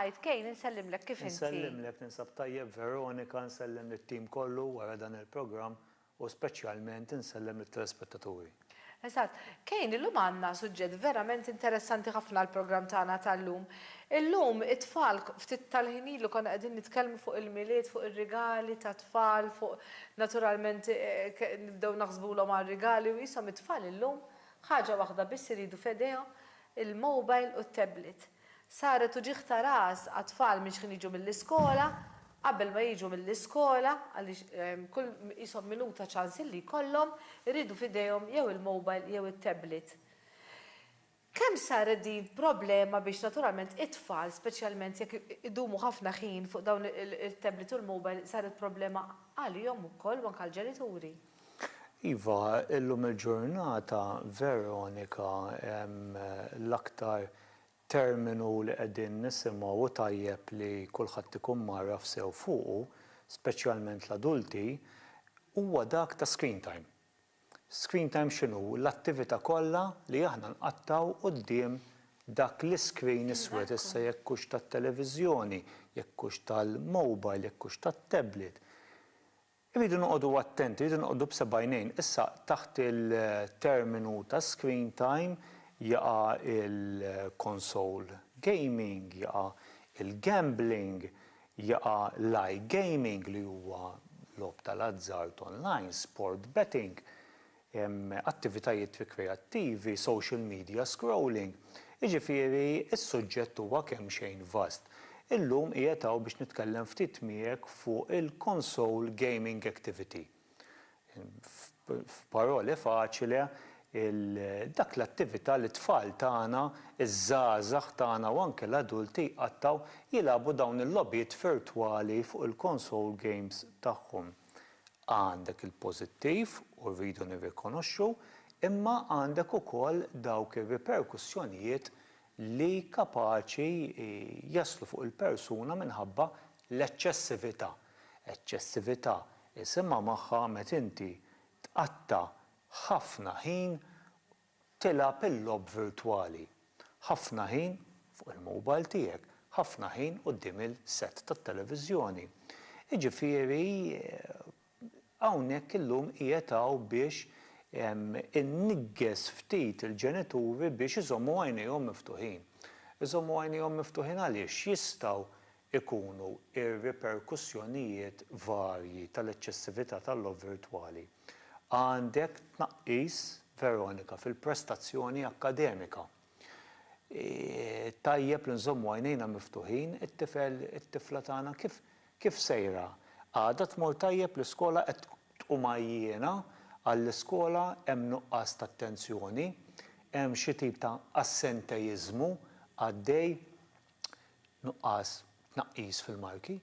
Tajt, Kejn, insellimlek kif inti? Insellimlek, ninsab tajjeb, Veronika, nsellem lit-tim kollu wara dan il-programm u speċjalment insellem lit-telespettaturi. Eżatt. Kejn, illum għandna suġġett verament interessanti ħafna għall-programm tagħna tal-lum. Illum it-tfal, ftit tal-ħin ilu konna qegħdin nitkellmu fuq il-Milied, fuq ir-rigali tat-tfal, fuq naturalment nibdew naħsbulhom għar-rigali u qishom it-tfal illum Ħaġa waħda biss iridu f'idejhom, il-mobile u t-tablet. Saret uġigħ ta' ras għat-tfal minn xħin jiġu mill-iskola, qabel ma jiġu mill-iskola, għaliex kull qishom minuta ċans illi jkollhom, iridu f'idejhom jew il-mobile jew it-tablet. Kemm saret din problema biex naturalment it-tfal, speċjalment jekk idumu ħafna ħin fuq dawn it-tablet u l-mobile, saret problema għalihom ukoll u anke għall-ġenituri. Iva, illum il-ġurnata, Veronika, l-aktar terminu li qegħdin nisimgħu u tajjeb li kulħadd ikun mgħarraf sew fuqu, speċjalment l-adulti, huwa dak ta' screen time. Screen time x'inhu? L-attività kollha li aħna nqattgħu quddiem dak l-iscreen iswed, issa jekk hux tat-televiżjoni, jekk hux tal-mobile, jekk hux tat-tablet. Irridu noqogħdu attenti, irridu noqogħdu b'seb'għajnejn. Issa taħt il-terminu ta' screen time jaqa' il-console gaming, jaqa' il-gambling, jaqa' l-iGaming li huwa logħob tal-azzard online, sport betting. attivitajiet rikreattivi, social media scrolling, jiġifieri s-suġġett huwa kemxejn vast. Illum qiegħed hawn biex nitkellem ftit miegħek fuq il-console gaming activity. F'parole faċile, dak l-attività li t-tfal tagħna, iż-żgħażagħ tagħna u anke l-adulti jqattgħu jilagħbu dawn il-logħbiet virtwali fuq il-console games tagħhom. Għandek il-pożittiv, u rridu nirrikonoxxu, imma għandek ukoll dawk ir-riperkussjonijiet li kapaċi jaslu fuq il-persuna minħabba l-eċċessività. Eċċessività isimha magħha meta inti tqatta' ħafna ħin Tilgħab il-logħob virtwali. Ħafna ħin fuq il-mobile tiegħek, ħafna ħin quddiem il-set tat-televiżjoni. Jiġifieri hawnhekk illum qiegħed hawn biex inniggeż ftit il-ġenituri biex iżommu għajnejhom miftuħin. Iżommu għajnejhom miftuħin għaliex jistgħu ikunu r-riperkussjonijiet varji tal-eċċessività tal-logħob virtwali. Għandek tnaqqis, Veronika, fil-prestazzjoni akkademika. Tajjeb li nżommu għajnejna miftuħin, it-tifel, it-tifla tagħna kif kif sejra? Għada tmur tajjeb l-iskola qed tqum għajjiena għall-iskola hemm nuqqas ta' attenzjoni, hemm xi tip ta' assenteiżmu għaddej. Nuqqas tnaqqis fil-marki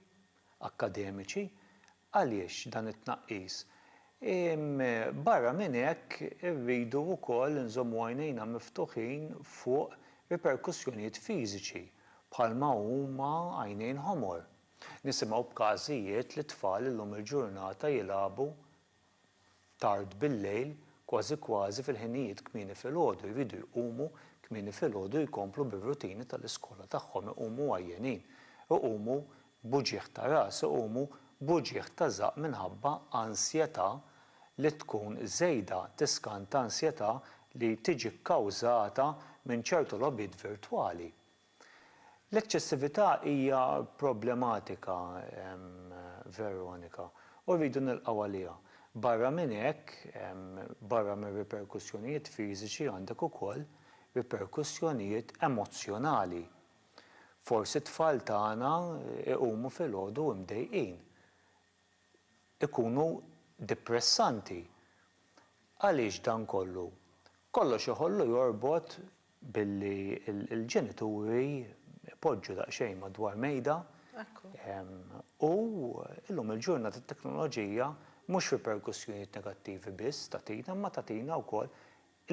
akkademiċi għaliex dan it-tnaqqis? Barra minn hekk irridu wkoll inżommu għajnejna miftuħin fuq riperkussjonijiet fiżiċi bħalma huma għajnejn ħomor. Nisimgħu b'każijiet li t-tfal illum il-ġurnata jilagħbu tard bil-lejl, kważi kważi fil-ħinijiet kmieni filgħodu jridu jqumu kmieni filgħodu jkomplu bir-rutini tal-iskola tagħhom iqumu għajjenin, iqumu b'uġigħ ta' ras, iqumu b'uġigħ ta' żaqq minħabba ansjetà li tkun żejda, tiskanta ansjetà li tiġi kkawżata minn ċertu logħbiet virtwali. L-eċċessività hija problematika, Veronika, u rridu nilqgħu għaliha. Barra minn hekk, barra mir-riperkussjonijiet fiżiċi għandek ukoll riperkussjonijiet emozzjonali. Forsi t-tfal tagħna jqumu filgħodu mdejqin, ikunu dipressanti. Għaliex dan kollu? Kollox iħollu jorbot Billi l-ġenituri jpoġġu daqsxejn madwar mejda u llum il-ġurnata t-teknoloġija mhux riperkussjonijiet negattivi biss tagħtina imma tagħtina wkoll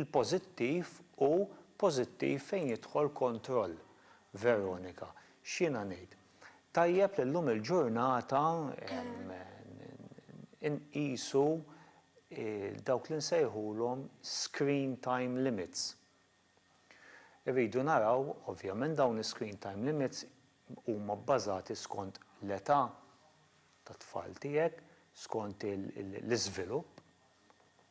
il-pożittiv u pożittiv fejn jidħol kontroll. Veronika, x'jiena ngħid? Tajjeb li llum il-ġurnata inqisu dawk li nsejħulhom screen time limits. Irridu naraw, ovvjament dawn is-screen time limits huma bbażati skont l-età tat-tfal tiegħek, skont l-iżvilupp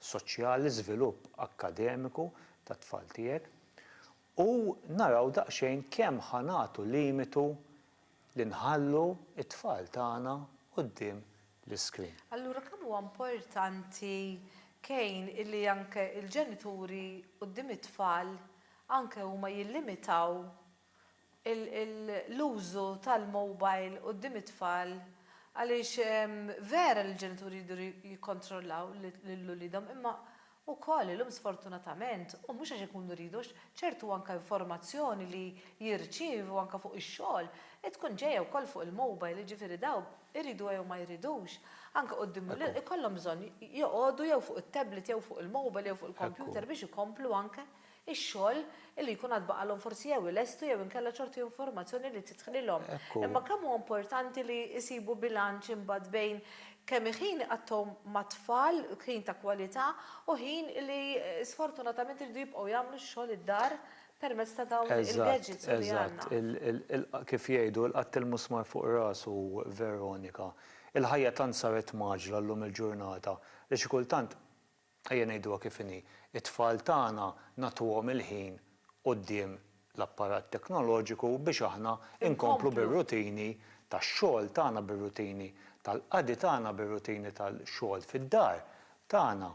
soċjali, l-iżvilupp akkademiku tat-tfal tiegħek u naraw daqsxejn kemm ħa nagħtu limitu li nħallu t-tfal tagħna quddiem l-iskrin. Allura kemm huwa importanti Kejn illi anke l-ġenituri quddiem it-tfal anke huma jillimitaw l-użu tal-mobile quddiem it-tfal għaliex vera li l-ġenituri jridu jikkontrollaw lil uliedhom imma Ukoll illum sfortunatament, u mhux għax ikunu jridu għax ċertu anke informazzjoni li jirċievu anke fuq ix-xogħol tkun ġejja wkoll fuq il-mobile, jiġifieri dawn iridu jew ma jridux, anke quddiem l-ilqgħa jkollhom bżonn joqogħdu jew fuq it-tablet jew fuq il-mobile jew fuq il-computer biex ikomplu anke ix-xogħol li jkun għad baqalhom forsi jew ilestu jew inkella ċertu informazzjoni li tidħlilhom. Imma kemm hu importanti li jsibu bilanċ imbagħad bejn kemm ħin iqattgħu mat-tfal, ħin ta' kwalità, u ħin li sfortunatament iridu jibqgħu jagħmlu x-xogħol id-dar permezz ta' dawn il-gadgets li għandna. Eżatt, eżatt. Kif jgħidu, il-qatt il-musmar fuq rasu, Veronika. Il-ħajja tant saret mgħaġġla llum il-ġurnata li xi kultant Ejja ngħiduha kif inhi, it-tfal tagħna nagħtuhom il-ħin quddiem l-apparat teknoloġiku biex aħna nkomplu bir-rutini tax-xogħol tagħna, bir-rutini tal-qadi tagħna, bir-rutini tal-xogħol fid-dar tagħna.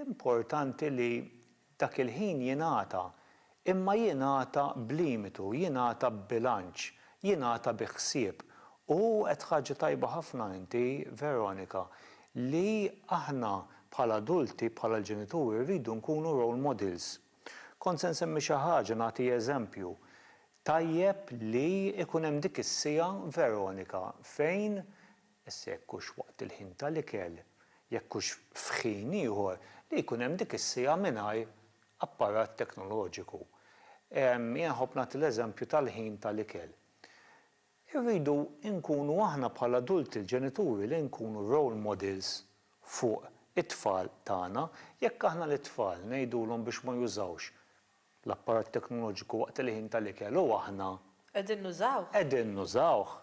Importanti li Dak il-ħin jingħata, imma jingħata b'limitu, jingħata b'bilanċ, jingħata bi ħsieb. U għedt ħaġa tajba ħafna inti, Veronika, li aħna bħala adulti, bħala l-ġenituri rridu nkunu role models. Kont se nsemmi xi ħaġa, nagħti eżempju. Tajjeb li jkun hemm dik is-siegħa, Veronika, fejn Issa jekk hux waqt il-ħin tal-ikel, jekk hux f'ħin ieħor, li jkun hemm dik is-siegħa mingħajr apparat teknoloġiku. Jien nħobb nagħti l-eżempju tal-ħin tal-ikel. Irridu nkunu aħna bħala adulti l-ġenituri li nkunu role models fuq it-tfal tagħna. Jekk aħna lit-tfal ngħidulhom biex ma jużawx L-apparat teknoloġiku waqt il-ħin tal-ikel u aħna. Qegħdin nużawh. Qegħdin nużawh.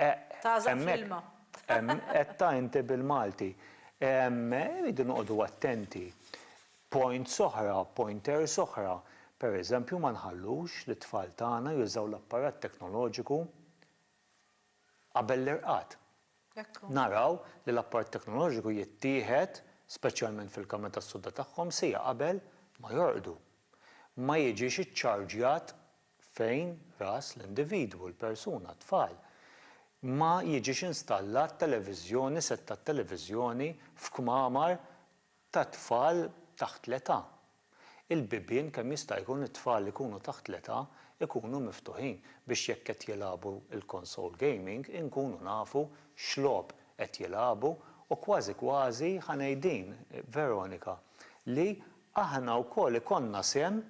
Eq. Tagħżaq fl-ilma. Hemmhekk qedtha inti bil-Malti. Irridu noqogħdu attenti. Points oħra, pointers oħra, per eżempju ma nħallux lit-tfal tagħna jużaw l-apparat teknoloġiku. qabel l-irqad. Naraw li l-apparat teknoloġiku jittieħed, speċjalment fil-kamra tas-sodda tagħhom, siegħa qabel ma jorqdu. Ma jiġix iċċarġjat fejn ras l-individwu, l-persuna, t-tfal. Ma jiġix installat televiżjoni, sett tat-televiżjoni f'kmamar ta' tfal taħt l-età. Il-bibien kemm jista' jkun it-tfal li jkunu taħt l-età jkunu miftuħin biex jekk qed jilagħbu l-console gaming inkunu nafu x'logħob qed jilagħbu u kważi kważi ħa ngħid din, Veronika, li aħna wkoll ikollna sehem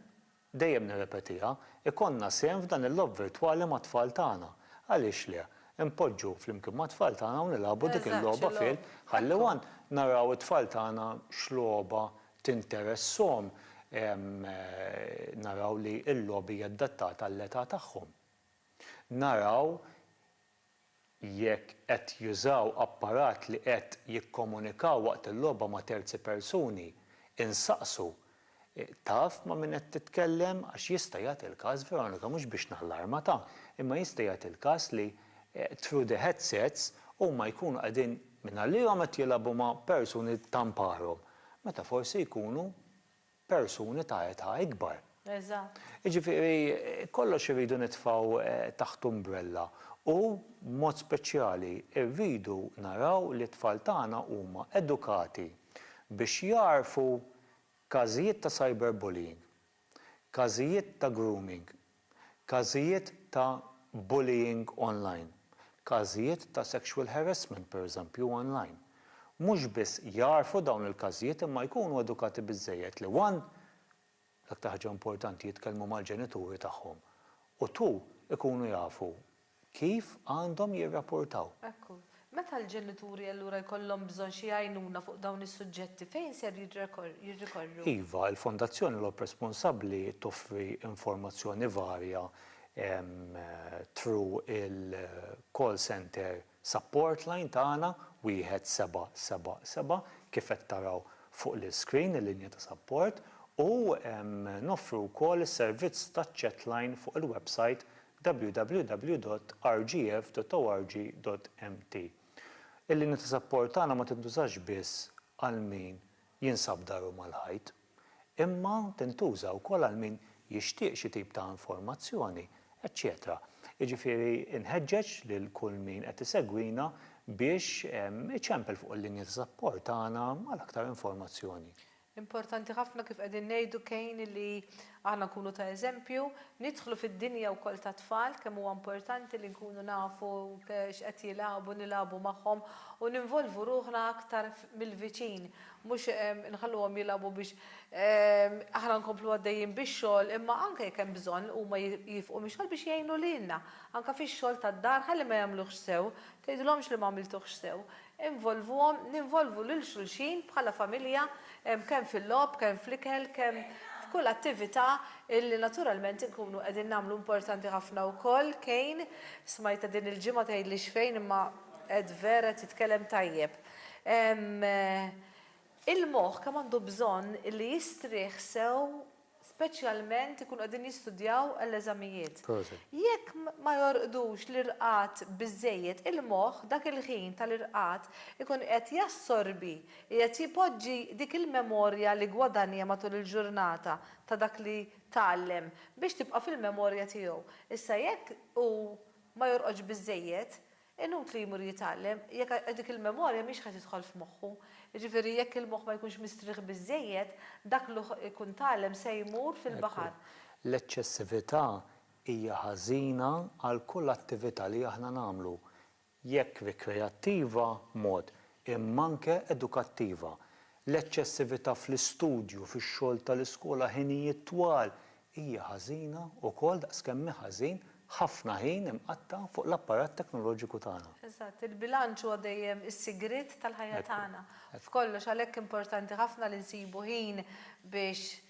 Dejjem nirrepetiha, ikollna sehem f'dan il-logħob virtwali mat-tfal tagħna. Għaliex le? Inpoġġu flimkien mat-tfal tagħna u nilagħbu dik il-logħba fil. Ħalli one naraw it-tfal tagħna x'logħba tinteressahom, naraw li l-logħob hija adattata għall-età tagħhom. Naraw jekk qed jużaw apparat li qed jikkomunikaw waqt il-logħba ma' terzi persuni, insaqsu, Taf ma' min qed titkellem? Għax jista' jagħti l-każ, Veronika, mhux biex nallarmata, imma jista' jagħti l-każ li through the headsets huma jkunu qegħdin mingħallihom qed jilagħbu ma' persuni tanparhom, meta forsi jkunu persuni ta' età ikbar. Eżatt. Jiġifieri kollox irridu nitfgħu taħt umbrella u, b'mod speċjali, irridu naraw li t-tfal tagħna huma edukati biex jagħrfu każijiet ta' cyberbullying, każijiet ta' grooming, Każijiet ta' bullying online, każijiet ta' sexual harassment pereżempju online, mhux biss jagħrfu dawn il-każijiet imma jkunu edukati biżżejjed li one, l-aktar ħaġa importanti jitkellmu mal-ġenituri tagħhom u two, ikunu jafu kif għandhom jirrapportaw. Hekk hu. Meta l-ġenituri allura jkollhom bżonn xi għajnuna fuq dawn is-suġġetti, fejn ser jirrikorru? Iva, il-Fondazzjoni Lob Responsabbli toffri informazzjoni varja through il-call center support line tagħna, 1777, kif qed taraw fuq l-iscreen, il-linja ta' sapport, u noffru wkoll is-servizz taċ-chat line fuq il-websajt www.rgf.org.mt Il-linja ta' sapport tagħna ma tintużax biss għal min jinsab daru mal-ħajt, imma tintuża wkoll għal min jixtieq xi tip ta' informazzjoni, eċċetera Jiġifieri nħeġġeġ lil kull min qed isegwina biex iċempel fuq il-linja ta' sapport tagħna għal aktar informazzjoni. Importanti ħafna kif qegħdin ngħidu Kane li aħna nkunu ta' eżempju, nidħlu fid-dinja wkoll tat-tfal, kemm huwa importanti li nkunu nafu x'qed jilagħbu, nilagħbu magħhom u ninvolvu ruħna aktar mill-viċin, mhux inħalluhom jilagħbu biex aħna nkomplu għaddejjin bix-xogħol imma anke jekk hemm bżonn huma jifqu mix-xogħol biex jgħinu lilna anke fix-xogħol tad-dar ħalli ma jagħmluhx sew, tgħidilhomx li m'għamiltuhx sew, Involvuhom, ninvolvu lil xulxin bħala familja kemm fil-logħob, kemm fl-ikel, kemm f'kull attività illi naturalment inkunu qegħdin nagħmlu. Importanti ħafna wkoll Kane, smajtha din il-ġimgħa tgħidlix fejn imma qed vera qed jitkellem tajjeb. Il-moħħ kemm għandu bżonn illi jistrieħ sew speċjalment ikunu qegħdin jistudjaw għall-eżamijiet. Proset. Jekk ma jorqdux l-irqad biżżejjed, il-moħħ dak il-ħin tal-irqad ikun qed jassorbi, qiegħed jpoġġi dik il-memorja li ggwadanja matul il-ġurnata ta' dak li tgħallem biex tibqa' fil-memorja tiegħu. Issa jekk hu ma jorqodx biżżejjed, Inutli jmur jitgħallem jekk dik il-memorja mhix ħa tidħol f'moħħu. Jiġifieri jekk il-moħħ ma jkunx mistrieħ biżżejjed, dak li hu jkun tgħallem se jmur Ekku, fil-baħar. l-eċċessività hija ħażina għal kull attività li aħna nagħmlu, jekk rikreattiva, mod, imma anke edukattiva. L-eċċessività fl-istudju, fix-xogħol tal-iskola, ħinijiet twal, hija ħażina wkoll daqs kemm hu ħażin ħafna ħin imqatta' fuq l-apparat teknoloġiku tagħna. Eżatt, il-bilanċ huwa dejjem is-sigriet tal-ħajja tagħna f'kollox, għalhekk importanti ħafna li nsibu ħin biex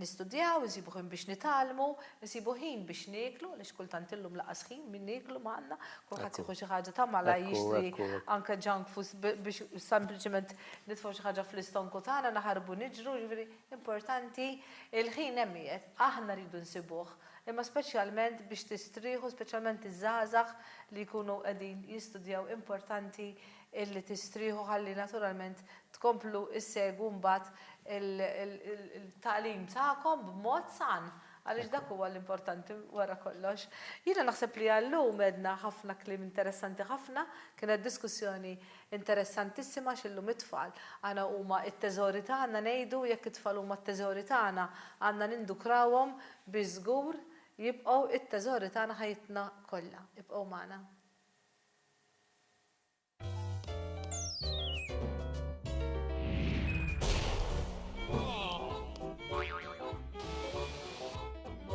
nistudjaw, insibu ħin biex nitgħallmu, insibu ħin biex nieklu, għaliex kultant illum lanqas ħin min nieklu m'għandna, kulħadd jieħu xi ħaġa ta' malajr jixtri anke junk foods biex sempliċement nitfgħu xi ħaġa fl-istonku tagħna, naħarbu niġru, jiġifieri Importanti, il-ħin hemm qiegħed, aħna rridu nsibuh, imma speċjalment biex tistrieħu speċjalment iż-żgħażagħ li jkunu qegħdin jistudjaw importanti illi tistrieħu ħalli naturalment tkomplu ssegwu mbagħad il-tagħlim tagħkom b'mod san għaliex dak huwa l-importanti wara kollox. Jiena naħseb li għal-lum għedna ħafna kliem interessanti ħafna, kienet diskussjoni Interessantissima għax illum it-tfal għana huma t-teżori tagħna ngħidu jekk it-tfal huma t-teżori tagħna għandna nindukrawhom biex żgur jibqgħu t-teżori tagħna ħajjitna kollha. Ibqgħu magħna.